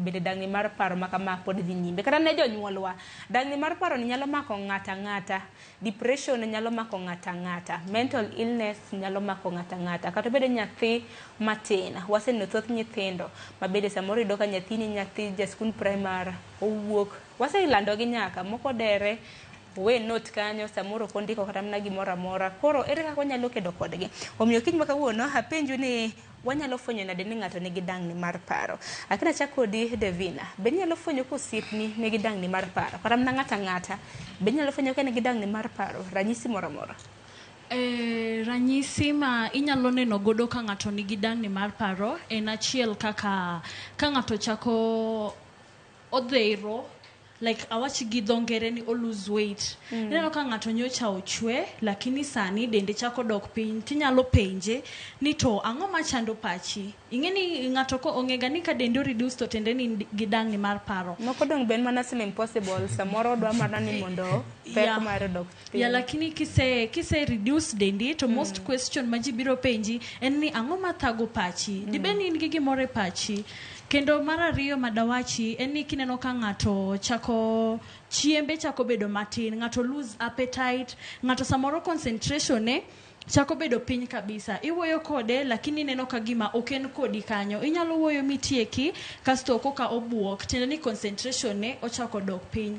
Bende dang'ni mar paro ma kama pod dhi nyime kata ne jonyuolwa? Dang'ni mar paroni nyalo mako ng'ato ang'ata. Depression nyalo mako ng'ato ang'ata. Mental illness nyalo mako ng'ato ang'ata. Kata obedo nyathi matin. Waseneno thoth nyithindo ma bende samoro iyudo ka nyathini nyathi ja skund primar, owuok. Waselandogi nyaka, moko odere, owe note kanyo, samoro ok ondiko kata mana gimoro amora. Koro ere kaka wanyalo kedo kodgi? Omiyo kiny ma kawuono apenju ni. Wanyalo fwenyo nade ni ng'ato nigi dang'ni mar paro? Ak nachak kodi Davina. Be inyalo fwenyo ka osiepni nigi dang'ni mar paro? Kata mana ng'ato ang'ata. Be inyalo fwenyo ka en gi dang'ni mar paro? Ranyisi moro amora. Eh, ranyisi ma inyalo neno godo ka ng'ato nigi dang'ni mar paro en achiel kaka ka ng'ato chako odhero like awachi gi dho ngere ni o lose weight mm. ineno ka ng'ato nyocha ochwe lakini sani dende chako dok piny tinyalo penje ni to ang'o machando pachi ing'e ni ng'ato ko ong'ega ni ka dende reduce to tende ni gidang' ni mar paro moko dong' ben mana sim impossible samoro dwa mana ni mondo pek yeah. mare dok piny yeah, lakini kise kise reduce dendi to mm. most question ma ji biro penji en ni ang'o mathago pachi mm. dibed ni in gi gimoro e pachi Kendo mar ariyo ma dawachi en ni kineno ka ng'ato chako chiembe chako bedo matin, ng'ato lose appetite, ng'ato samoro concentration ne chako bedo piny kabisa. Iwuoyo kode lakini ineno ka gima ok en kodi kanyo. Inyalo wuoyo mitieki kasto koka obuok tiende ni concentration ne ochako dok piny.